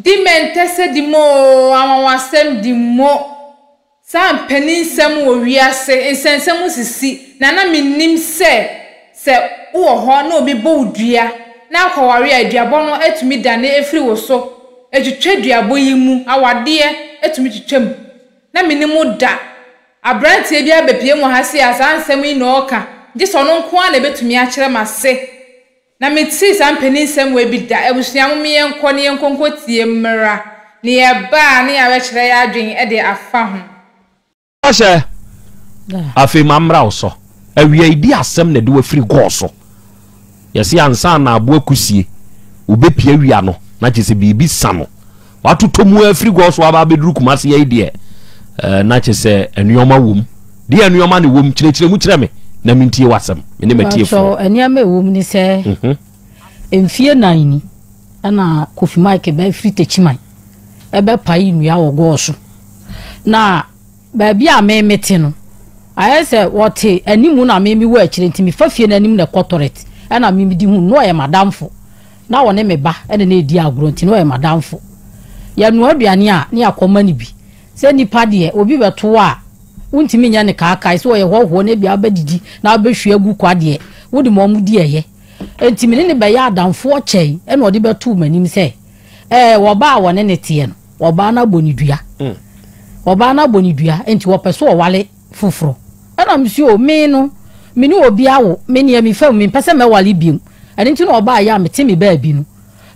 Dimɛntɛsɛdi mu oo, anwanwasɛmdi mu o, saa mpanin-nsɛm wɔ wiase nsɛnsɛm mu sisi, na na mennim sɛ sɛ wowɔ hɔ na obi bɔ wo dua na akɔware a duabɔ no atumi dane afiri wo so atwitwa duabɔ yi mu, awadeɛ atumi twitwa mu. Na menni mu da. Abranteɛ bi abɛpue mu ha sei a saa nsɛm yi na ɔreka, gye sɛ ɔno nko ara na ɛbɛtumi akyerɛ m'ase. Na metee saa mpanin nsɛm wei bi da, Abusua mo me yɛnkɔ ne yɛnkɔ nkɔ tie mmra ne yɛbaa ne yɛabɛ kyerɛ yɛ adwen de afa ho. Ɔhyɛ, Afei ma mmra wo so. Awiai bi asɛm na ɛde wo afiri gɔɔ so. Yɛse ansa na aboa kusie, wobɛ pia wia no na kyerɛ sɛ biribi sa no. Watotɔ mu ara firi Gɔs hɔ aba abɛduru Kumase ha yi deɛ, eh, na kyerɛ sɛ nneɛma wɔ mu. Deɛ nneɛma na ɛwɔ mu, kyerɛkyerɛ mu kyerɛ me na mentie w'asɛm, me ne m'atiefoɔ. Mpakyɛw, nneɛma a ɛwɔ mu ne sɛ, mhm. mfie nan ni na Kofi Mike ba firi Takyiman ɛbɛpae nnua wɔ Gɔs so. Na baabi a me mete no, ayɛ sɛ wɔte anim na me mewɔ akyire nti mefa fie no anim na ɛkɔ tɔrɛt ɛna me medi ho no ɔyɛ madamfo. Ná ɔne me ba na na yɛdi agorɔ nti, na ɔyɛ m'adamfo. Yɛnoa aduane a, na yɛakɔma no bi. Sɛ nnipa deɛ, obi bɛto wo a, wontumi nyɛ no kaakae. Sɛ ɔyɛ hɔhoɔ na ebia wobɛdidi na wobɛhwie agu kwa deɛ, wode ma wɔn di ɛyɛ. Enti me ne no bɛyɛɛ adamfoɔ kyɛe. Ɛnna ɔde bɛtoo m'anim sɛ, Ɛɛ, ɔbaa a wɔne no teɛ no, ɔbaa no abɔ no dua. Ɔbaa no abɔ no dua, enti ɔpɛ sɛ ɔware. foforɔ ɛna mesua o me no me ne obi awo me neɛ me fam me mpɛ sɛ mɛwale biom ɛno nti na ɔbaa yɛ a mete me baabi no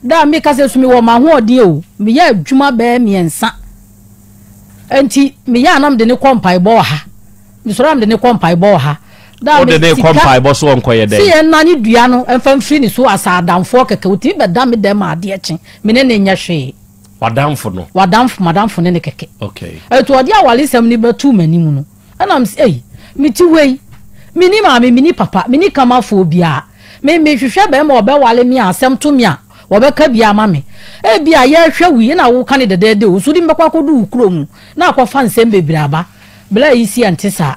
daa me kasa su me wɔ mahoɔden o me yɛ adwuma bɛɛ miɛnsa ɛnti me yɛ a na mede ne kɔ mpaebɔ ɔha me sɔrɔ a mede ne kɔ mpaebɔ ɔha daa me sika si yɛ nna ne dua no ɛmfa mfiri ne so asa adamfoɔ kɛkɛ otimi bɛda me dɛm adeɛ kye me ne ne nyɛ hwee W'adamfo no. W'adamfo, m'adamfo ne ne kɛkɛ. Okay. Ɛto ɔde awaresɛm no bɛtoo m'anim no, ɛna mese, ei, mete hɔ yi, menni maame, menni papa, menni kamafoɔ biara. Me, mehwehwɛ barima a ɔbɛware me a asɛm to me a, wɔbɛka bi ama me. Ebia yɛrehwɛ wo yi na woka no dɛdɛɛdɛ o, nso wode me bɛkɔ akɔdu wo kuro mu na akɔfa nsɛm bebree aba. Bla yi si ɛnte saa.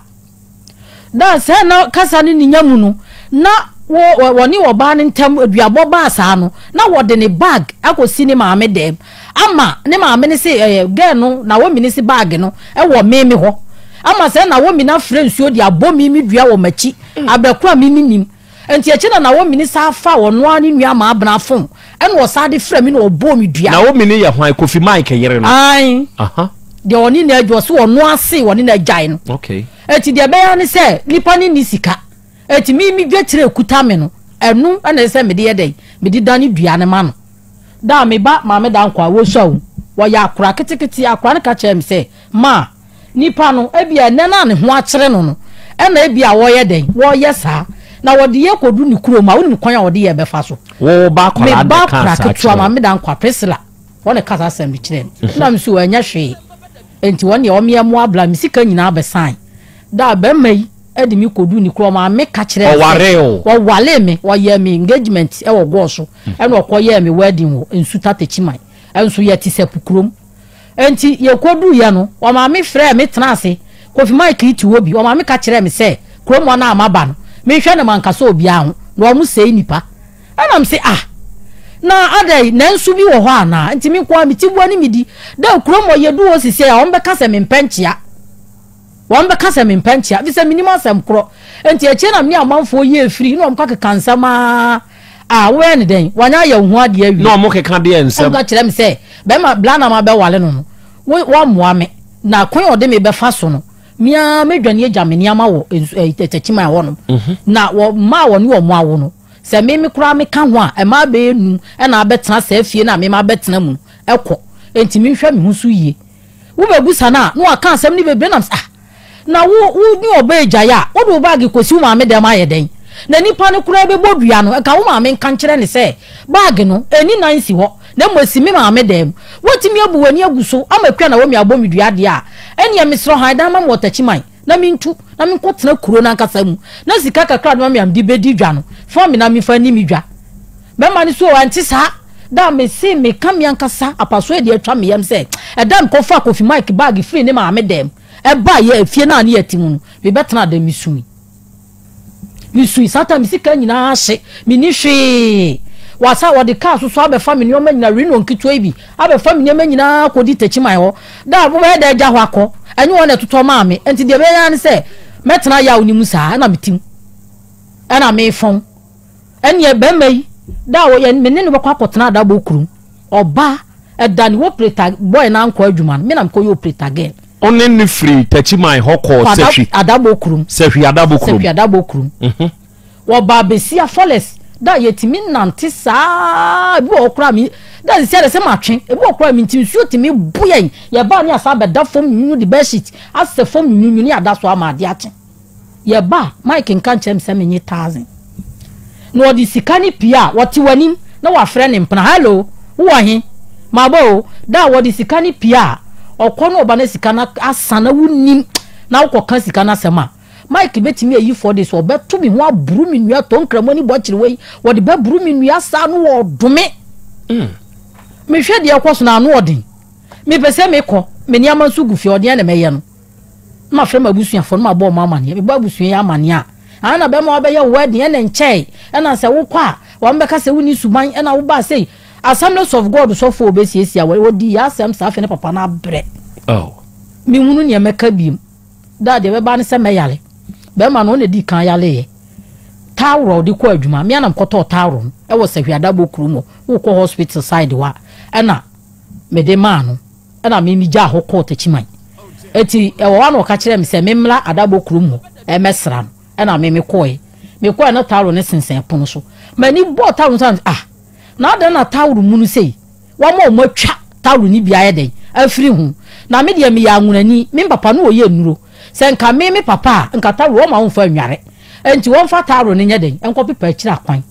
Ná sɛɛ na kasa no nnya mu no, na wɔne ɔbaa no ntam duabɔ baa saa no, na wɔde ne bag akɔsi ne maame dɛm ama ne maame no se ɛɛ gɛɛ no Naomi no se bag no wɔ me me hɔ ama sɛ Naomi no afrɛ nsuo de abɔ me me dua wɔ m'akyi abrɛ ko a me mennim. Enti akyiri na Naomini san faa ɔno ara ne nua maabena fon ɛna ɔsan de frɛɛ me na ɔbɔɔ me dua. Naomi no yɛ hwan? Kofi Mike yere no? Aane. Aha. Deɛ ɔne no adwa, ɔse ɔno ara see ɔne no agyae no. Okay. Enti deɛ ɛbɛyɛ ara ne sɛ nipa no nni sika. Enti me me dwakyire a ɛkuta me no, ɛno na ɛsɛ sɛ mede yɛ dɛn? Mede dane dua no ma no. Da a me ba Maame Dankwa, wɔsua o, wɔyɛ akora ketekete, akora no ka kyerɛɛ me sɛ, Maa, Nnipa no, ebia nnɛ no a ne ho akyere no no na ebia wɔyɛ dɛn? Wɔyɛ saa, na wɔde yɛ kɔdu ne kurom a, wonim kwan a wɔde yɛ bɛfa so. Wo ba akwadaa de kaa saa kyerɛ wo? Me ba akwadaa ketewa, Maame Dankwa, Priscilla, wɔn na ɛka saa asɛm no kyerɛɛ me. Mhm. Na me so ɛnyɛ hwee. Enti wɔn deɛ wɔn yɛ mmoa bla me sika nyinaa bɛsan. Da a bɛrima yi de me kɔdu ne kurom a, me ka kyerɛ sɛ. Ɔwaree o. Ɔwaree me, ɔyɛɛ me engagement wɔ gɔɔ so, mhm. ɛna ɔkɔyɛɛ me wedding wɔ Nsuta Techiman. Ɛnso yɛte sɛ pukurom. Enti yekoduiɛ no, ɔmaame frɛɛ me tenaa ase, Kofi Mike yi te hɔ bi, ɔmaame ka kyerɛɛ me sɛ kurom hɔ no a maba no, menhwɛ no mankasa obiara ho, na wɔn sɛe nnipa. Ɛna mese, Ah! Na adɛn, na nsu bi wɔ hɔ anaa? Enti me nko ara, me tiboa ne me di. Dɛ, kurom hɔ, yɛdu hɔ seesei a, wɔbɛka sɛ mempɛ nkyea. Wɔbɛka sɛ mempɛ nkyea, efisɛ minnim asɛm koro. Enti akyire na me ne amanfoɔ yɛɛ firi, na wɔkɔkeka nsɛm ara a, wobɛyɛ no dɛn? Wɔanyɛ ayɛ wo ho adeɛ awie. Na wɔkeka deɛ nsɛm. Wɔka kyerɛ me sɛ, Barima Branham abɛware no no, wo, woammoa me, na kwan a ɔde me bɛfa so no, me ara mɛdwane agya me nneɛma wɔ nsu, ɛɛ, Tɛkyima hɔnom. Na wɔ, mma a wɔne wɔn awo no, sɛ me, me koraa meka ho a, mmaa bɛyɛ nnum na abɛtena saa fie no a me mabɛtena mu no, kɔ. Enti menhwɛ me ho so yie. Wobɛbusa no a, na waka asɛm no bebree nam sɛ, Ah, na wo wo ne ɔbaa yi gyae a, wode wo baage kɔsi wo maame dɛm ayɛ dɛn? Na nipa no koraa bɛbɔ dua no, Nka wo maame nka nkyerɛ no sɛ, baage no, ɛnni nan nsi hɔ, na mmom ɛsi me maame dɛm. Woatumi abu w'ani agu so ama Kua Naomi abɔ me dua deɛ a, ɛnneɛ mesrɛ hann dan ma me wɔ Takyiman, na mentu, na menkɔtena kuro no ankasa mu, na sika kakra a wode bɛma me a mede bɛdi dwa no, fa me na memfa nni me dwa. Bɛma no so o, ɛnte saa? Da a mese meka me ankasa apasoɔ deɛ atwa me yam sɛ ɛda a mekɔfaa Kofi Mike baage firii ne maame dam baeɛ, efie no a ne yɛte mu no, mebɛtenaa dɛm, mesui. Mesui. Saa ta me sika nyinaa ahye, menni hwee. Wasa wɔde kaa so so abɛfa me nneɛma nyinaa, Renault nketewa yi bi, abɛfa me nneɛma nyinaa akɔdi Takyiman hɔ. Da a wobɛyɛ dɛ agya hɔ akɔ, ɛnyɛ wɔn na ɛtotɔ maa me. Nti deɛ mɛyɛ ara ne sɛ mɛtena yaw no mu saa, ɛna metim, ɛna mefɔn. Ɛnneɛ barima yi da a ɔyɛ me ne no bɛkɔ akɔtena adabɔ kurom. Ɔba ɛda ne operator boy no ankɔ adwuma no, me na mekɔyɛ operator girl. Ɔne no firii Takyiman hɔ kɔɔ Sahwi adabɔ kurom. Sahwi adabɔ kurom. Sahwi adabɔ kurom. Wɔbaa Besia Falls da a yɛtumi nante saa ebi wɔ hɔ koraa me da a sisi ara sɛ matwe ebi wɔ koraa me nti nsuo tumi bo yɛn yɛbaa ne yɛasan abɛda fam nyunyuni de bedsheet asɛ fam nyunyuni ada so ama adeɛ akye. Yɛba a, Mike nka nkyerɛ me sɛ menye thousand, na ɔde sika no pue a, ɔte w'anim na wafrɛ ne mpena, Hello, wowɔ he? Maba o. Da a ɔde sika no pue a, ɔkɔ na ɔba na sika no asa na wonnim, na wokɔka sika no asɛm a, Mike bɛtumi ayi four days, ɔbɛto me ho aburu me nnua, tɔ nkramu ani bɔ kyere wei, ɔde bɛburu me nnua saa na ɔɔdome me. Mm. Mehwɛ deɛ ɛkɔ so no, ano ɔden. Mepɛ sɛ mekɔ, me nneɛma nso gu fie, ɔdeɛn na mɛyɛ no? na mafrɛ m'abusuafoɔ na mabɔ wɔn amaneɛ mebɔ abusua yi amaneɛ a ɛna na bɛrima wabɛyɛ wedding ɛna nkyɛe ɛna sɛ wokɔ a wɔn bɛka sɛ wonni suban ɛna wobaa sɛ assemblies of god sɔfoɔ obɛsiesia wɔ wɔdi yɛ asɛm saa afei ne papa no abrɛ oh. mehunu neɛ mɛka biom daa deɛ bɛba ne sɛ mɛyare bɛrima no ɔna di kan yareeɛ tawrɔ ɔde kɔ adwuma me anam kɔtɔɔ tawrɔ no ɛwɔ sɛ hwiadabɔ kurom hɔ wokɔ hospital side wa ɛna mede maa no na me migyaa hɔ kɔɔ Takyiman. Enti ɛwɔ hɔ a na ɔka kyerɛɛ me sɛ memmra Adabɔ kurom hɔ mmɛsra no, ɛna me mekɔɔe. Mekɔɔe na towel no sensɛn pono so. M'ani bɔɔ towel no so a, na mese, Ah! Na adɛn na towel mono sei? Wɔama wɔatwa towel no bi ayɛ dɛn? Afiri ho. Na me deɛ meyɛ anwonani, me papa na ɔyɛ nnuro. Sɛ nka me me papa a, nka towel wɔmma wɔmfa nnware. Enti wɔmfa towel no nyɛ dɛn? Nkɔpepa akyiri akwan.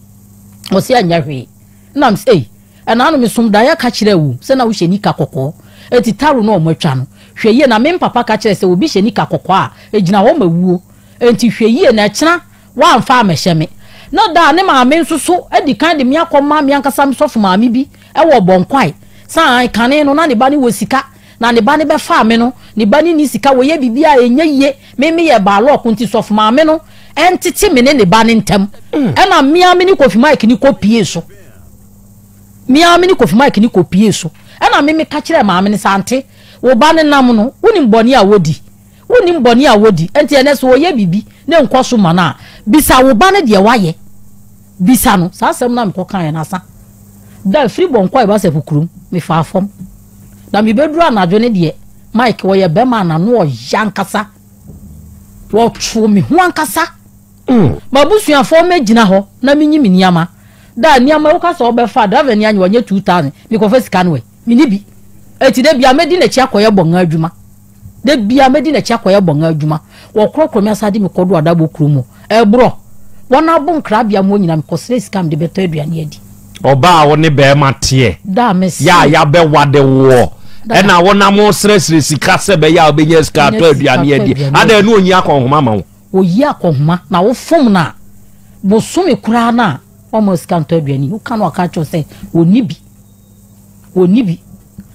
Ɔse ɛnyɛ hwee. Ɛna mese, Ei! Ɛna no mesom daeɛ ka kyerɛɛ wo sɛ na wohyɛ nika kɔkɔɔ enti taro no a wɔatwa no hwɛ yie na me mpapa ka kyerɛɛ sɛ obi hyɛ nika kɔkɔɔ a ɛgyina hɔ ma wuo enti hwɛ yie na ɛkyena woamfa ammɛhyɛ me na da a ne maame nso so adi kan de me akɔma me ankasa me sɔfo maame bi wɔ Ɔbɔnkwae sane kane no na ne ba no wɔ sika Na ne ba no bɛfaa me no, ne ba no nni sika, wɔyɛ biribiara a ɛnyɛ yie, me meyɛ baalɔɔko nti sɔfo maame no ntete me ne ne ba no ntam. Ɛna me ara me ne Kofi Mike no kɔpuee so. Me ara me ne Kofi Mike no kɔpuee so. Ɛna me meka kyerɛɛ maame no sɛ, Ante, wo ba no nam no, wonim bɔne a wɔdi? Wonnim bɔne a wɔdi. Enti ɛnnɛ sɛ ɔyɛ biribi na ɛnkɔ so ma no a, bisa wo ba no deɛ wayɛ. Bisa no. Saa asɛm no a mekɔkaeɛ no, asa da firi Bɔnkɔ a ɛba Sɛpo kurom, mefaa fam. Na mebɛduru anadwo no deɛ Mike ɔyɛ bɛma a n'ano ɔyɛ ankasa ɔtoo me ho ankasa mm. mabusuafoɔ mɛgyina hɔ na menyi me nneɛma da nneɛma woka sɛ ɔbɛfa driver ni anyɛ ɔnyɛ 2000 mekɔfa sika no ɛ mene bi ɛti da bia mɛdi n'akyi akɔyɛ bɔnga adwuma Da biara mɛdi n'akyi akɔyɛ bɔn adwuma. Wɔkorɔkorɔ me asan de me kɔdɔ adabɔ kuro mu. Ɛborɔ. Wɔn abo nkrabea mu hɔ nyinaa mekɔsrɛ sika a mede bɛtɔ aduane adi. Ɔbaa a wo ne barima teɛ Da me se. yɛ a yɛabɛwade woɔ Dada. na wonam resrɛsrɛ sika sɛ ɛbɛyɛ a wobɛnya sika Nya atɔ sika aduane atɔ adi. aduane Adɛn adi. na ɔnyi akɔnhoma ma wo? Ɔyi akɔnhoma na wofom no a, bosome koraa no a, wamma wo sika antɔ aduane. Woka no a, ɔka kyerɛ wo sɛ ɔnni bi. Ɔnni bi.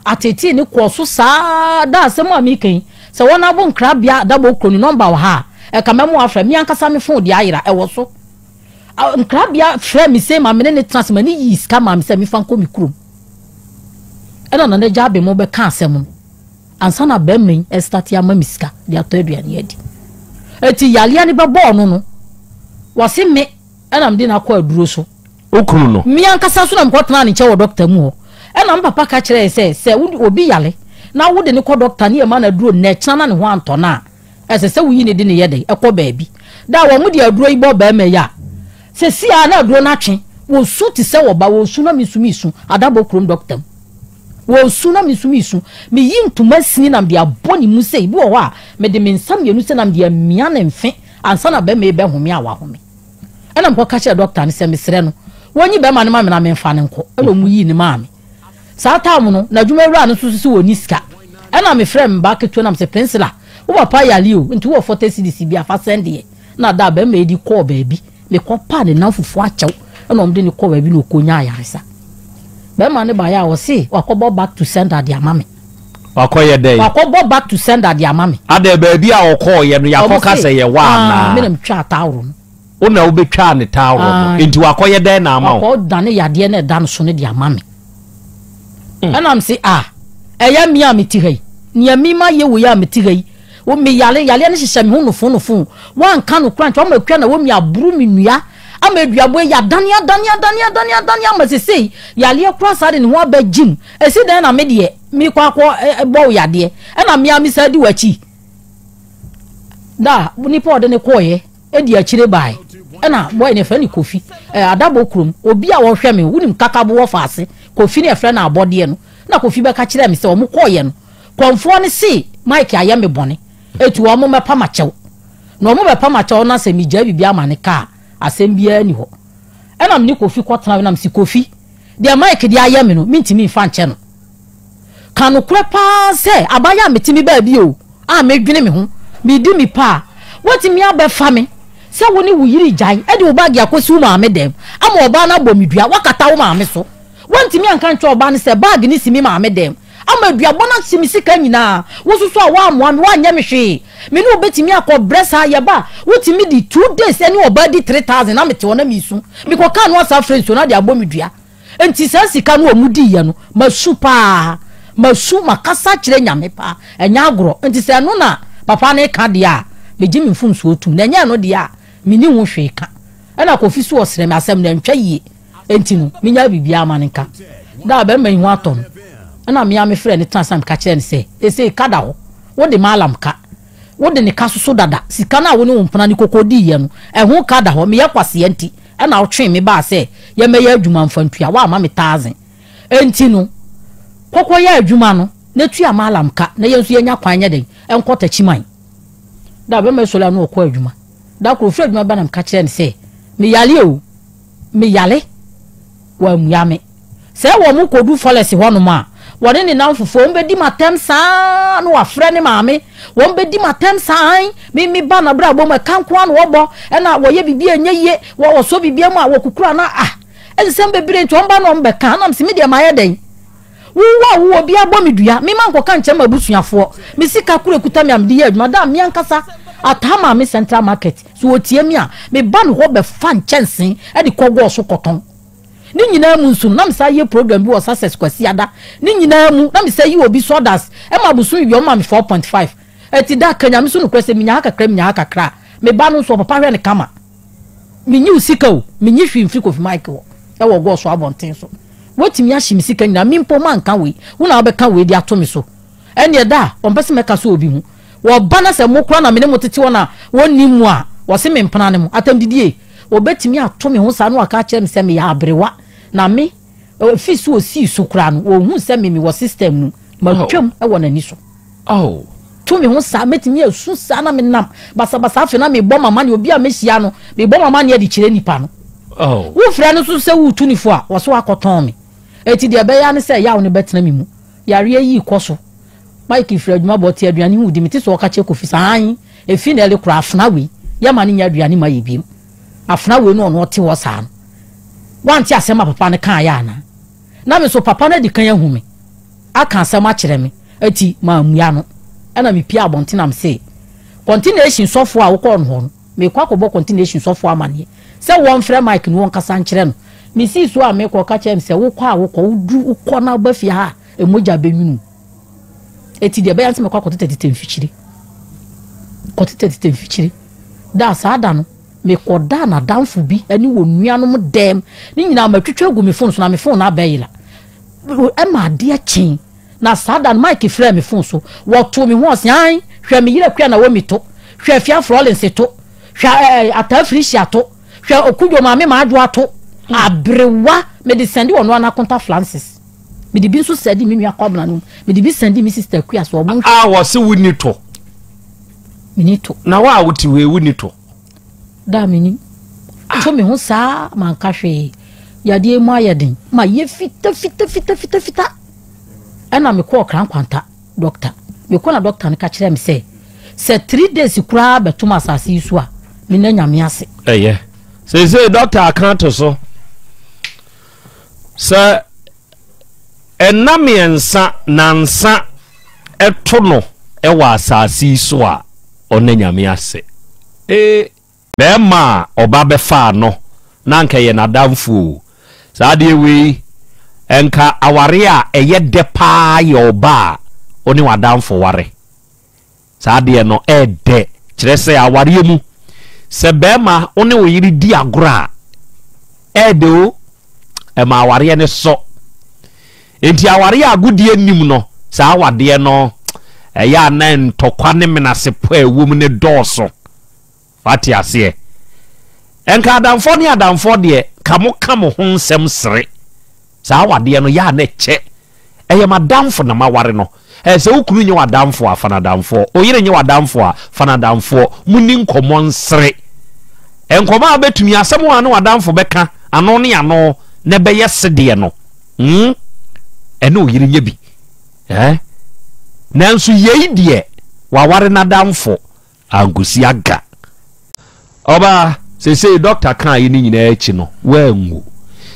Ateetee no kɔɔ so saa ara. Daa asɛm a mereka yi, sɛ wɔabo nkrabea adabɔ kuro no nɔmba wɔ ha a, ɛka mɛma wɔafrɛ. Me ankasa me fon deɛ ayera, ɛwɔ so. Nkrabea frɛɛ me sei ma me ne no tena ase ma no yii sika maa me sɛ memfa nkɔ me kurom. Ɛna Nana Agya Abemo bɛka asɛm no ansa na barima yi ɛrestate ama me sika de atɔ aduane adi. Enti yareɛ no bɛbɔɔ no no, wɔse me. Ɛna mede no akɔ aduro so. Wo kunu no? Me ankasa nso na mekɔtenaa ne nkyɛn wɔ dɔkta mu hɔ. Ɛna me papa ka kyerɛɛ sɛ, sɛ obi yare na wode no kɔ dɔkta ne ɛma no aduro nnɛkyena na ne ho antɔ no a, ɛsɛ sɛ woyi ne de no yɛ dɛn? Ɛkɔ baabi. Da a wɔde aduro yi bɔ barima yi a, seesei ara na aduro no atwe. Wɔsu te sɛ ɔba, wɔsu na mesu mesu. Adabɔ kurom dɔkta mu. Wɔsu na mesu mesu. Meyi ntoma sini na mede abɔ ne mu sei. Bi wɔ hɔ a, mede me nsa mmienu sei na mede amia ne mfe ansa na barima yi bɛhome a wahome. Ɛna mekɔka kyerɛɛ dɔkta no sɛ mesrɛ no wɔnyi bɛrima no ma me na memfa no nkɔ. Ɛna wɔn yii no maa me. Saa tam no, n'adwuma wura no nso so sɛ wɔnni sika. Ɛna mefrɛɛ me ba ketewa nam sɛ Pɛnsila, wo papa yare o, nti wowɔ fɔtɛ silisi bi a fa sɛn deɛ. Na da a bɛrima yi de kɔɔ baabi, mekɔpaa ne nan fufuo akyɛw ɛna wɔde no kɔɔ baabi na ɔkɔnyaa ayaresa. Bɛrima no baeɛ a ɔse wakɔbɔ back to sender de ama me. Wakɔ yɛ dɛn? Wakɔ bɔ back to sender de ama me. Adɛn baabi a ɔkɔɔ yɛ no yakɔ ka sɛ yɛ hɔ anaa? Ɔmo se, aah me na me twaa taworo no. Wo na wo bɛ twaa ne taworo no? Enti wakɔ yɛ dɛn na ama wo? Wakɔ dane yadeɛ na ɛda no so no de ama me. Ɛna me se, aah ɛyɛ me a me te ha yi? Nea me ma yɛ wei a me te ha yi Wo me yale yaleɛ no hyehyɛ me ho nofoo nofoo Woanka no koraa nkyɛ wama akua na wɔmi aboro me nua Ama aduaboa yi adane adane adane adane adane Ama sesei yaleɛ koraa saa de ne ho aba gyim Ɛsi dɛn na me deɛ mekɔ akɔ bɔ wo yadeɛ Ɛna me ara me san di w'akyi Da nipa ɔde ne kɔɔeɛ ɛdi akyire bae Ɛna boy no yɛfrɛ no Kofi eh, adabɔ kurom Obi a ɔhwɛ me wonim kakabo wɔ faase Kofi no yɛfrɛ no abɔdeɛ no Na Kofi bɛka kyerɛɛ me sɛ wɔn kɔɔeɛ no Kɔmfoɔ no see Mike ayɛ me bɔne eti wɔn mmɛpa makyɛw. Na wɔn bɛpa makyɛw na sɛ megyae biribiara ma ne ka a, asɛm biara nni hɔ. Ɛna me ne Kofi kɔtena hɔ na mese Kofi, deɛ Mike de ayɛ me no mentumi mfa nkyɛ no. Ka nokorɛ pa ara sɛ abayɛ a mete me baabi o a medwene me ho, medi me pa a, woatumi abɛfa me sɛ wo ne wo yere gyae de wo bag akɔsi wo maame dɛm ama ɔbaa no abɔ me dua, woakata wo maame so. Woantumi anka nkyerɛ ɔbaa no sɛ bag no si me maame dɛm. Ama aduabɔ no ase me sika nyinaa. Wo nso so a woammoa me, woanyɛ me hwee. Me ne wo bɛtumi akɔ brɛ saa? Yɛba a, wotumi di two days ɛne ɔbaa di three thousand na mete hɔ na meresu. Mekɔkaa no asa afrɛ nsuo no ade abɔ me dua. Enti saa sika no a wɔdiiɛ no, masu pa ara. Masu, makasa akyerɛ Nyame pa ara. Ɛnyɛ agorɔ. Enti sɛ ɛno na papa no reka deɛ a, megye me mfomsoɔ tom. Na ɛnyɛ ɛno deɛ a, menni ho hwee ka. Ɛna Kofi nso ɔsrɛ me, asɛm no antwa yie. Enti no, minyaa biribiara ma no nka. Da a barima yi ho atɔ no, ɛnna me ara mefrɛɛ no tenaa ase na meka kyerɛɛ no sɛ, Seesei ka da hɔ. Wode Maalam ka. Wode ne ka soso dada. Sika no a wo ne wo mpena ne koko diiɛ no, ɛho ka da hɔ. Meyɛ kwasea nti, ɛnna wotwee me baa sɛ yɛmmɛyɛ adwuma mfa ntua. Woamma me taase. Enti no, kɔ kɔyɛ adwuma no na tua Maalam ka, na yɛn nso yɛnya kwan nyɛ dɛn nkɔ Takyiman. Da a barima yi sɔre anɔpa na ɔkɔɔ adwuma. Da koro, ɔfirii adwuma ba na meka kyerɛɛ no sɛ, Meyare o! me yare, wammua me. Sɛ wɔkɔdu Fɔlɛs hɔnom a, wɔne ne nnamfofoɔ, wɔbɛdi me atɛm saa ara na wɔafrɛ ne maame. Wɔbɛdi me atɛm saa ara. Ae, me, me ba no abrabɔ mu, ɛka nko ara na wɔbɔ, ɛna wɔyɛ biribi a ɛnyɛ yie, wɔ, wɔsɔ biribi mu a, wɔkukura no a, ah, nsɛm bebree nti wɔba na wɔbɛka, ɛnam sɛ me deɛ mayɛ dɛn? Wo wo a wowɔ biara bɔ me dua, mema nkɔka nkyerɛ m'abusuafoɔ. Me sika koro a ɛkuta me a mede yɛ adwuma daa me ankasa ataa maa me Central Market. Sɛ wɔtie me a, meba ne hɔ bɛfa nkyɛnsee de kɔ Goɔ so kɔtɔn. Ne nyinaa mu nso no, na mesan yɛ program bi wɔ Sussex Kwasiada. Ne nyinaa mu, na mesan yi obi sawdust ma abosome wie a, ɔma me four point five. Ɛti da, ka Nyame so nokorɛ sɛ, menya ha kakra, menya ha kakra a, meba no nso ɔpapa hwɛ no kama. Menyiw sika o, minnye hwee mfiri Kofi Mike hɔ wɔ Goɔ so abɔnten so. Woatumi ahye me sika nyinaa, me mpo manka wei, wo na wobɛka wei de ato me so. Ɛnneɛ da a ɔmpɛ sɛ mɛka sɛ obi ho. Wɔba na sɛ mo koraa na me ne mo tete hɔ na wɔnnim mo a, wɔse me mpena ne mo. Atɛmdidie! Wɔbɛtumi ato me ho saa na wɔaka akyerɛ me sɛ meyɛ aberewa, na me, afi so a ɔsii so koraa no, wɔhuu sɛ me mewɔ system mu. Matwam wɔ n'ani so. Oh! To me ho saa, mɛtumi asu saa na me nam basabasa afei na mebɔ m'amaneɛ obi a mɛhyia no, mebɔ m'amaneɛ de kyerɛ nipa no. Oh! Wo frɛ no so sɛ wo tu no fo a, ɔse wakɔ tɔn me. Eti deɛ ɛbɛyɛ ara ne sɛ yaw no bɛtena me mu. Yareɛ yii kɔ so. Mike firi adwuma ba ɔte aduane ho di, mete sɛ ɔka kyerɛ Kofi sɛ aane, efi na ɛle koraa afena wei, yɛ ma no nyɛ aduane ma yɛ biom. Afena wei ne ɔno ɔte hɔ saa no. Wante asɛm a papa no kaeɛ anaa? na me nso papa no adi kan ahu me aka asɛm akyerɛ me nti mammua no. Ɛnna mipuee abɔnten na misee kɔntenehyin sɔfo a wokɔɔ no hɔ no, merekɔ akɔbɔ kɔntenehyin sɔfo amanneɛ sɛ wɔmfrɛ Mike na wɔnkasa nkyerɛ no. Misii so a merekɔ, ɔka kyerɛɛ me sɛ, Wokɔ a wokɔ, wudu wokɔ na woba fie ha a, mogya benwini wo. Enti deɛ ɛbɛyɛ ne sɛ mɛkɔ akɔtetɛ tetɛ mfikyire. Kɔtetɛ tetɛ mfikyire. Da a, saa da no, Mekɔdaa n'adamfo bi ne wɔn nuanom dɛm. Ne nyinaa matwitwa agu me fon so, na me fon no abɛyera. Ɛma adeɛ kyee, na saa da no Mike frɛɛ me fon so. Wɔtoo me ho ɔse, Ae, hwɛ me yere Akua Naomi to, hwɛ Afia Florence to, hwɛ eh, Ataa Felicia to, hwɛ Okudwo Maame Maadwoa to. Hmm. Aberewa, mede sɛnde ɔno ana Konta Francis. Mede bi nso sɛnde me nua Kɔmena no mu. Mede bi sɛnde me sister Akua so. Ɔmo. A wɔse wonni tɔ. Mini to. Na wo a wote hɔ yi, wonni to? Da a minim. Ah. To me ho saa manka hwee. Yadeɛ mu ayɛ den. Ma yɛ fita fita fita fita fita. Ɛna mekɔɔ krankwanta dɔkta. Mekɔ na dɔkta no ka kyerɛ me sɛ sɛ three days koraa bɛtom asase yi so a menna nyame ase. Ɛyɛ. Seesei dɔkta aka ato so. Sɛ nna mmiɛnsa, nansa, to no wɔ asase yi so a, ɔnna Nyame ase. Ee, bɛɛma a ɔba bɛfaa no no anka ɛyɛ n'adamfo o. Saa adeɛ wei, nka awareɛ a ɛyɛ dɛ paa yɛ ɔba a wo ne w'adamfo ware. Saa adeɛ no ɛɛdɛ. Kyerɛ sɛ awareɛ mu sɛ bɛɛma wo ne wo yere di agorɔ a ɛɛdɛ o ɛma awareɛ no sɔ enti awareɛ a agodie nnim no saa awadeɛ no ɛyɛ a na ntɔkwa ne menasepɔ a ɛwɔ mu no dɔɔso. Wate aseɛ? Nka adamfoɔ ne adamfoɔ deɛ, nka mo ka mo ho nsɛm sere. Saa awadeɛ no, yɛ a na ɛkyɛ. Ɛyɛ m'adamfo na maware no. Ɛɛ, sɛ wo kunu nyɛ w'adamfo a, fa no adamfoɔ. Wo yere nyɛ w'adamfo a, fa no adamfoɔ. Monni nkɔmmɔ nsere. Nkɔmmɔ a wobɛtumi, asɛm a ne w'adamfo bɛka ano ne ano na ɛbɛyɛ sedeɛ no, hmm, ɛne wo yere nyɛ bi. Ɛɛ, nanso yei deɛ, waware n'adamfo. Ankosi aga. Ɔbaa, sesei dɔkta kaeɛ no nyinaa akyi no, woanwu.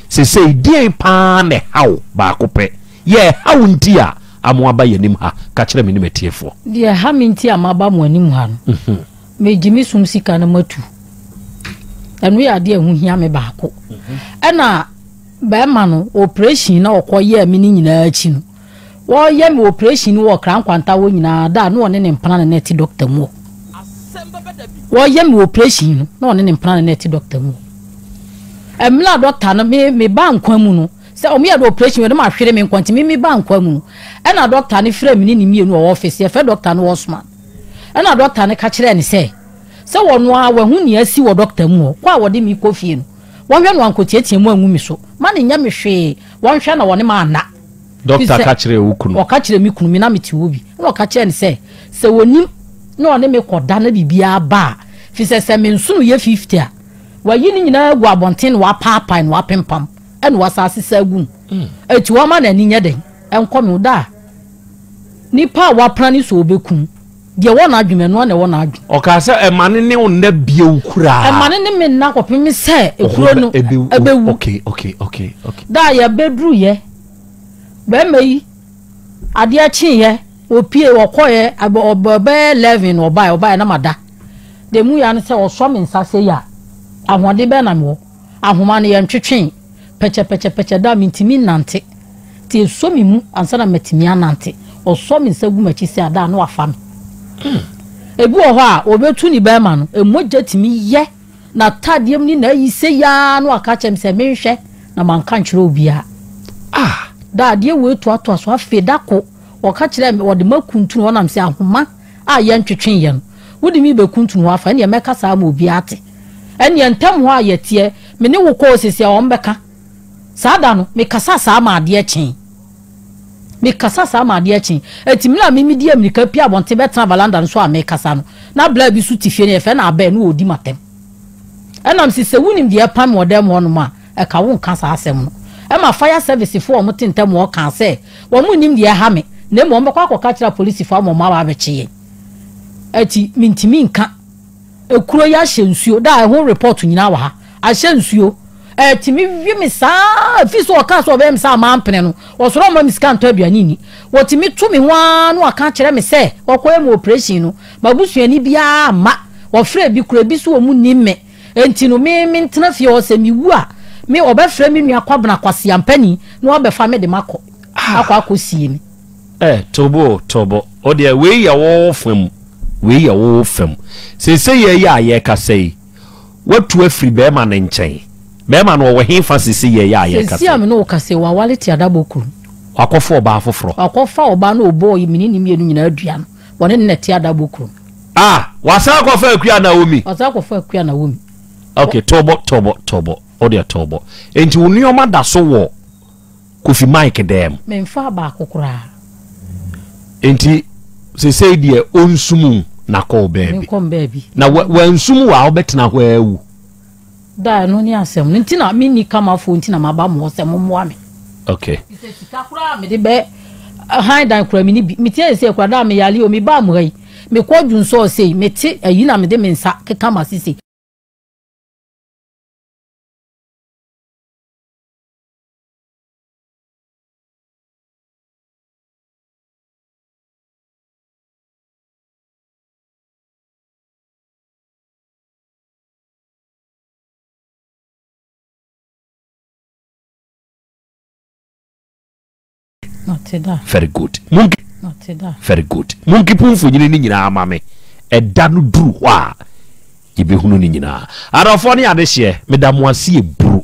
Sesei, deɛn pa ara na ɛha wo? Baako pɛ. Yɛ ɛha wo nti a amo aba yɛn anim ha? Ka kyerɛ me ne m'atiefoɔ. Deɛ ɛha me nti a maba mo anim ha no, megye me som sika no matu. Ɛno yɛ adeɛ a ɛho hia me baako. Ɛna barima no, operation no a ɔkɔyɛɛ me no nyinaa akyi no, Wɔyɛ me oprehyɛn no wɔ Ɔkra Nkwanta hɔ nyinaa da a na ɔne ne mpena na na ɛte dɔkta mu hɔ. Wɔyɛ me oprehyɛn no na ɔne ne mpena na na ɛte dɔkta mu hɔ. Ɛmmerɛ a dɔkta no, me, me baa nkwa mu no, sɛ wɔn yɛ de oprehyɛn wɔ, na mahwere me nkwa nti, me, me baa nkwa mu no, ɛna dɔkta no frɛ me ne ne mmienu wɔ ɔfese, yɛfrɛ dɔkta no Osman. Ɛna dɔkta no ka kyerɛɛ no sɛ, sɛ wɔno ara wahu nea asi wɔ dɔkta mu hɔ, kɔ a wɔde me kɔ fie no, wɔnhwɛ no ankɔtiatia mu angu me so, ma no nyɛ me hwee, wɔnhwɛ na wɔne me anna. Dɔkta ka kyerɛɛ wo kunu? Ɔka kyerɛɛ me kunu, me na mete hɔ bi. Ɛnna ɔka kyerɛɛ no sɛ, sɛ ɔnim na ɔne me kɔda na biribiara ba a, ɛfiri sɛ sɛ me nsono yɛ fifty a, wayi ne nyinaa agu abɔnten na wapaapae na wapempam na wasan asesa agu mu. Enti wama n'ani nyɛ dɛn? Ɛnkɔ me o. Da a nipa a wapra no so a ɔbɛkum. Deɛ ɛwɔ n'adwene mu, ɛno ara na ɛwɔ n'adwene. Ɔkaa sɛ, Mma no ne wo nna bio koraa. Mma no ne me nna kɔpem sɛ kuro no bɛwu. Okay, okay, okay, okay. Da a yɛbɛduruiɛ, barima yi, adeɛ kyeeɛ, ɔpue, ɔkɔeɛ, ɛbɛ, ɔbɛ, ɔbɛyɛ eleven na ɔbaeɛ, ɔbaeɛ na mada. Deɛ mu ya no sɛ ɔsɔ me nsa sei a, ahoɔden bɛn na mewɔ? Ahoma no, yɛntwetwee pɛkyɛpɛkyɛpɛkyɛ da a mintumi nnante. Enti esɔ me mu ansa na matumi anante. Ɔsɔ me nsa gu m'akyi sɛ ada a na wafa me. Ebi wɔ hɔ a, obetu ne bɛrima no, mogya tumi yɛ n'atadeɛ mu ne n'ayi sei ara na waka akyerɛ me sɛ menhwɛ, na manka ankyerɛ obiara. Ah! Da adeɛ wei toatoa so. Afei da ko, ɔka kyerɛɛ me, ɔde m'akuntunu hɔ nam sɛ ahoma. a yɛntwetwee yɛn. Wode me rebɛkuntunu hɔ afa, ɛnneɛ mɛka saa ama obiara ate. Ɛnneɛ ntam hɔ a yɛteɛ, me ne wo kɔɔ sisi a wɔbɛka. Saa da no, mekasa saa maa adeɛ kyee. Mekasa saa maa adeɛ kyee. Enti mmerɛ a me medi ammirika pue abɔnten bɛtena valanda no so a mekasa no, na blaa bi nso te fie no, yɛfrɛ no Abel, na ɔredi m'atɛm. Ɛnam se sɛ wonim deɛ ɛpam me wɔ dan mu hɔnom a, Ɛka wo nka saa asɛm no. Ɛma fire service foɔ a wɔn te ntɛm hɔ kaa sɛ, wɔn nnim deɛ ɛha me, na mmom wɔn bɛkɔ akɔka akyerɛ apolisifoɔ ama wɔn aba abɛkye yɛn. Ɛti me ntumi nka. Ekuro yi ahyɛ nsuo, daa ɛho report nyinaa wɔ ha. Ahyɛ nsuo. Ɛtumi we me saa, ɛfiri sɛ wɔkaa sɛ wɔbɛyɛ me saa a mampene no, wɔsɔre wɔmma me sika ntɔ aduane nni. Wɔtumi to me ho ara na wɔaka akyerɛ me sɛ, wɔkɔyɛ me operation no, m'abusuani biara amma. Wɔfrɛɛ bi koraa, ebi nso wɔn nnim me. Enti no, me, mentena fie hɔ. Sɛ miwu a, me, wɔbɛfrɛ me nua Kwabena Kwasi Ampani na wɔabɛfa me de makɔ, akɔ akosie me. Eh, Tobo o, Tobo, wo deɛ, wei yɛ wo fa mu, wei yɛ wo fa mu. Seiseiɛ yi a yɛrekasa yi, woatu afiri barima no nkyɛn. Barima no, ɔwɔ hefa seiseiɛ yi a yɛrekasa yi? Seisei a me ne wo kasa yi, waware Tiadabɔ kurom. Wakɔfa ɔbaa foforɔ? Wakɔfa ɔbaa na ɔbɔɔ yɛ, me ne ne mmienu nyinaa dua no. Wɔne no na ɛte adabo kurom. Ah, wasan akɔfa akua Naomi. Wasan akɔfa akua Naomi. Okay, tɔbɔ tɔbɔ tɔbɔ. O deɛ tɔbɔ. Enti wo nneɛma da so wɔ Kofi Mike dɛm. Memfa baako koraa. Enti sesei deɛ ɔnsum na kɔ baabi. Menkɔ baabi. Na wansum wo a wobɛtena hɔ awu. Da ɛno ne asɛm no nti na menni kamafoɔ nti na maba mo hɔ sɛ mommoa me okay sɛ sika koraa a mede bɛ han dan koraa mene bi metia yɛ sɛ koraa da a meyale o mebaa mo ha yi mekɔ dwun sɔɔ sei mete ayi na mede me nsa keka ma sisi very good monki very good monki po mfonyini ne nyinaa ama me ɛda no duru hɔ a yɛbɛhunu ne nyinaa adɔfoɔ ne adehyeɛ meda mo ase ɛburu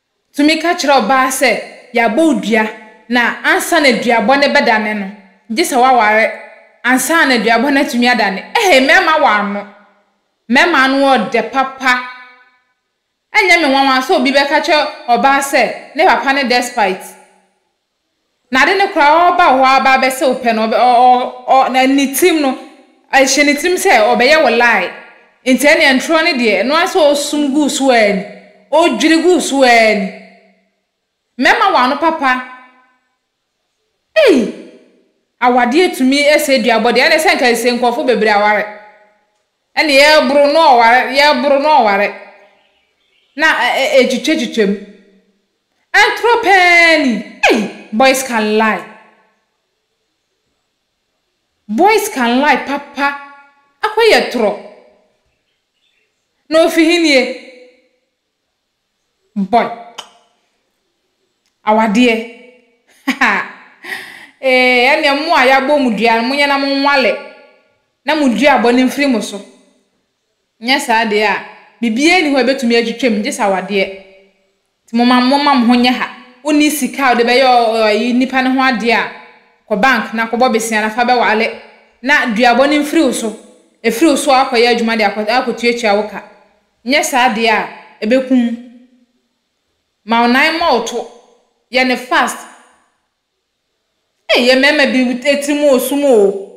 Tumi ka kyerɛ ɔbaa sɛ, Yɛabɔ wo dua, na ansa na duabɔ no bɛdane no, gye sɛ woaware ansa na duabɔ no atumi adane. Ɛhɛi, mmarima wɔ ano. Mmarima ano yɛ dɛ papa. Ɛnyɛ me nwanwa sɛ obi bɛka kyerɛ ɔbaa sɛ ne papa ne despite. Na ade no koraa ɔreba hɔ aba abɛsɛ wo pɛ no ɔbɛ ɔ ɔ ɔ na ne tirim no ɛhyɛ ne tirim sɛ ɔbɛyɛ wo lie nti ɛneɛ ntorɔ no deɛ ɛno ara sɛ ɔsum gu so ara ni ɔdwiri gu so ara ni mɛma wo ano papa ei awadeɛ tumi sɛ duabɔ deɛ ɛneɛ sɛ nka ɛsɛ nkurɔfo bebree aware ɛneɛ yɛboro no ɔware yɛboro no ɔware na ɛtwitwa twitwa mu Antoro paa ni. Ei boys can lie boys can lie papa akɔ yɛ torɔ na ofi he nie boy awadeɛ ha ee ɛneɛ mo a yabɔ mo dua no mo nyɛ na mo nwale na mo duabɔ no mfiri mo so Anyɛ saa deɛ a, biribiara nni hɔ a ɛbɛtumi atwitwa mu, gye sɛ awadeɛ. Nti momma, momma mo ho nyɛ ha. Wonni sika a wode bɛyɛ ɔ, ɔ, ayi, nnipa no ho adeɛ a, kɔ bank na kɔbɔ bosea na fa bɛwale, na duabɔ no mfiri wo so. Ɛfiri wo so a, woakɔyɛ adwuma de akɔ, akɔtuatua wo ka. Anyɛ saa deɛ a, ɛbɛku wo. Ma wo nan mmɔ wo to. Yɛ no fast. Ei, yɛn mmarima bi, wo, tirim wɔ sum o.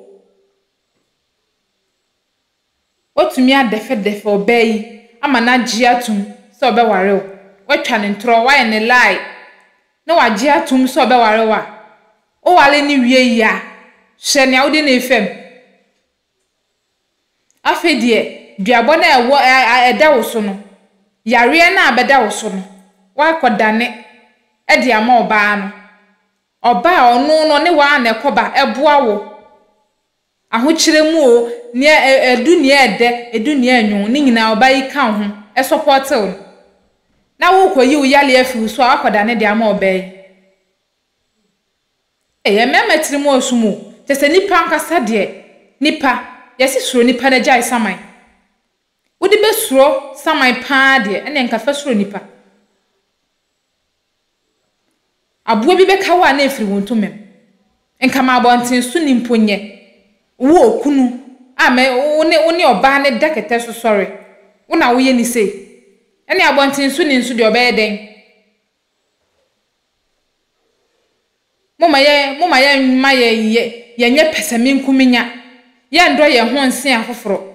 Watumi adɛfɛdɛfɛ ɔbaa yi ama no agye atom sɛ ɔbɛware wo. Watwa no ntorɔ, wayɛ no lie na wagye atom sɛ ɔbɛware wo a, woware no wie yi a, hwɛ nea wode no refa mu. Afei deɛ, duabɔ no a ɛwɔ a a ɛda wo so no, yareɛ no a ɛbɛda wo so no, woakɔdane de ama ɔbaa no. Ɔbaa a ɔno no, ɔne wo ara na ɛkɔba, ɛboa wo. Ahokyerɛ mu oo, nea ɛdu nea ɛdɛ, ɛdu nea ɛnwon, ne nyinaa ɔbaa yi ka wo ho, ɛsɔpɔɔte wo no. Na worekɔyi wo yale afi wo so a woakɔdane de ama ɔbaa yi. Ei, mmarima tiri mu ɔsom o, kyerɛ sɛ nipa ankasa deɛ, nipa, yɛse suro nipa na gyae saman. Wode bɛsuro saman paa deɛ, ɛneɛ nka fa suro nipa. Aboa bi bɛka wo a na ɛfiri wo ntomam. Nka ma abɔntensoni mpo nyɛ wo okunu a mɛ wo ne wo ne ɔbaa no da kɛtɛ so sɔre, wo na woyɛ no sei. Ɛnneɛ abɔntensoni nso deɛ ɔbɛyɛ dɛn? Momma yɛ momma yɛmma yɛ yɛ yɛnyɛ pɛsɛmenkominya, yɛnnɔ yɛn ho nsen afoforɔ.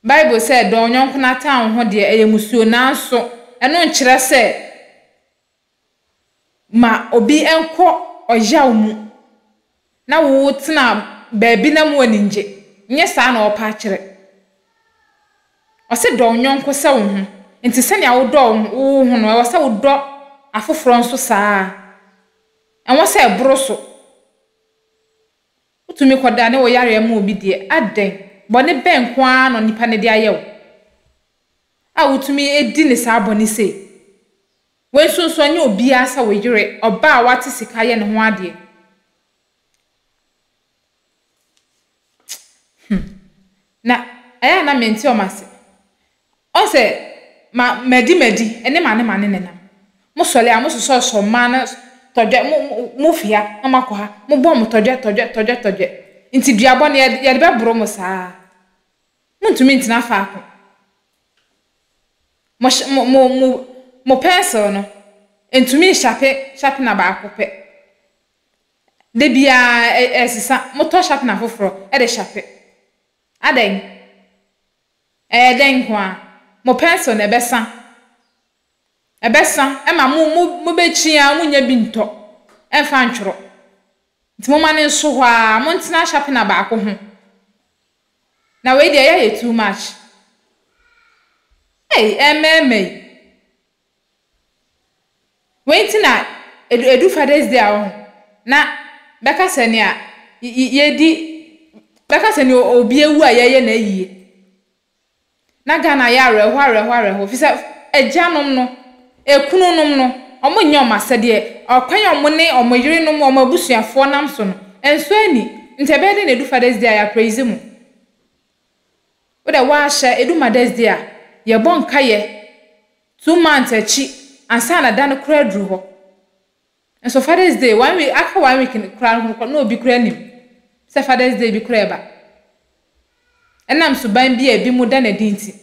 Bible sɛ, Dɔ wo yɔnko na taa wo ho deɛ, ɛyɛ mmusuo, nanso ɛno nkyerɛ sɛ ma obi nkɔ ɔyaw mu na wo wotena baabi na mu ani ngye. Nyɛ saa na ɔɔpɛ akyerɛ. Ɔse dɔ wo yɔnko sɛ wo ho. Nti sɛnea wo dɔ wo ho no, ɛwɔ sɛ wo dɔ afoforɔ nso saa ara. Ɛwɔ sɛ ɛboro so. Wotumi kɔdane wo yareɛ ma obi deɛ, adɛn? Bɔne bɛn nko ara na onipa no de ayɛ wo a wotumi di no saa bɔne sei? Wei nso nso, ɛnyɛ obiara sɛ wo yere, ɔbaa a wate sika yɛ ne ho adeɛ. Hmm. Na ɛyɛ a na mente wɔn ase. Ɔse, Ma madi madi ne mane mane nenam. Mo sɔle a mo sosɔsɔ mmaa no tɔdwɛ, mo mo fi ha na mo akɔ ha, mo bɔ mo tɔdwɛ tɔdwɛ tɔdwɛ tɔdwɛ. Nti dua bɔne yɛ yɛde bɛboro mo saa. Mo ntumi ntena faako. Mo hye mo mo mo mo pɛnsel no ntumi nshape shapena baako pɛ. Da biara ɛ ɛsesa, motɔ shapena foforɔ de shape. Adɛn? Ɛyɛ dɛn nko ara? Mo pɛnsel no, ɛbɛsa. Ɛbɛsa. Ɛma mo, mo, mobɛkyin ara, monnya bi ntɔ mfa ntwerɛ. Nti momma no nso hɔ ara. Montena sharpener baako ho. Na wei deɛ, ɛyɛ ayɛ too much. Ei, ɛremmɛɛmmɛ yi. Wei nti na edu edu Father's Day a ɔho na bɛka sɛ nea y y yɛdi bɛka sɛ nea obi awu a yɛyɛ no ayie. Na Ghana yɛ awerɛhoɔ awerɛhoɔ awerɛhoɔ ɛfiri sɛ agyanom no, ɛkununom no, wɔnnyɛ wɔn asɛdeɛ. Ɔkwan a wɔn ne wɔn yerenom, wɔn abusuafoɔ nam so no, ɛnsɔ ani. Nti ɛbɛyɛ dɛn na ɛdu Father's Day a yɛ apreizi mo? Wodɛ wɔahyɛ Edu Madɛsdzi a, yɛbɔ nkayɛ two months ekyi ansaana da no koraa edur hɔ. Nso Father's Day, one week, aka one week no koraa no na obi koraa nnyim sɛ Father's Day bi koraa reba. Enam suban bi a binom da no edzi ntsi,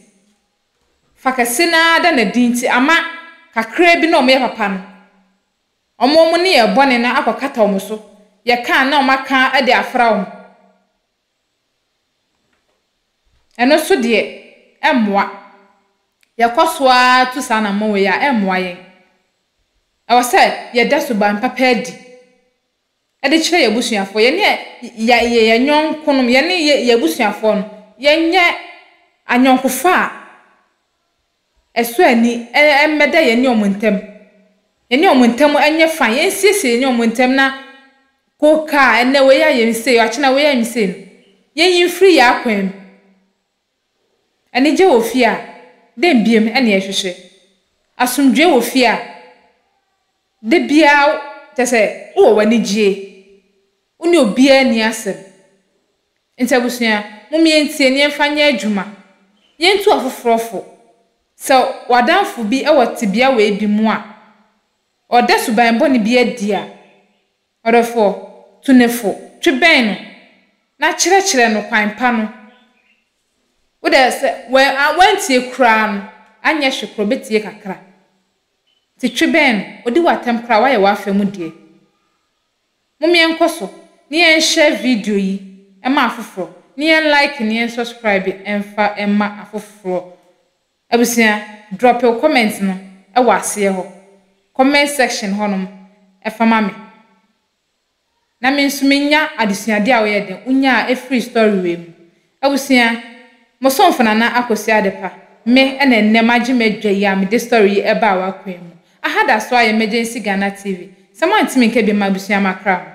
fa kɛse no ara da no edzi ntsi ama kakra bi no a wɔyɛ papa no, wɔma wɔn nneyɛe bɔne no akɔkata wɔn so, yɛka a na wɔaka dze afora wɔn. Ɛno nso deɛ, ɛmmoa. Yɛkɔ so ara tu saa anammɔn wei a, ɛmmoa yɛn. Ɛwɔ sɛ yɛda suban papa adi de kyerɛ yɛn abusuafoɔ. Yɛne yɛn yɛ yɛn yɔnkonom, yɛne yɛn abusuafoɔ no, yɛnyɛ ayɔnkofa a ɛsɔ ani mmɛda yɛne wɔn ntam. Yɛne wɔn ntam nyɛ fine. Yɛnsiesie yɛne wɔn ntam na poka a ɛnnɛ wei ayɛ me sei, akyena wei ayɛ me sei no, yɛnyi mfiri yɛn akwan mu. Anigye wɔ fie a, dɛn biom na yɛhwehwɛ? Asomdwoe wɔ fie a, da biara kyerɛ sɛ wowɔ w'ani gyie. Wo ne obiara nni asɛm. Enti abusua, mom yɛntie na yɛmfa nyɛ adwuma. Yentu afoforɔ fo. Sɛ w'adamfo bi wɔ tebea wei bi mu a, ɔreda suban bɔne bi adi a, ɔdɔfoɔ, tu no fo, twe bɛn no, na kyerɛkyerɛ no kwan pa no. Wo deɛ, sɛ wantie koraa no, anyɛ hwe koraa, ɔbɛtie kakra. Enti twe bɛn no. Ɔdi wo atɛm koraa a, woayɛ w'afa mu deɛ. Mom yɛnkɔ so na yɛn share video yi ma afoforɔ na yɛn like na yɛn subscribe mfa mma afoforɔ Abusua drop wo comment no wɔ aseɛ hɔ comment section hɔ nom fa ma me na me nso me nya adesuadeɛ a woyɛ dɛn wonyaa firi story wei mu Abusua, mo somfo Nana Akosua Adepa, me na ɛnnɛ magye m'adwa yi a mede story yi ɛbaa w'akoa mu. Aha da so ara yɛ Emergency Ghana TV, sɛ mo antumi nka bi mma abusua makra mo.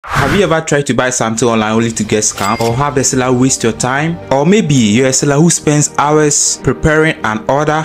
Have you ever tried to buy something online only to get scammed or have the seller waste your time? Or maybe you're a seller who spends hours preparing an order.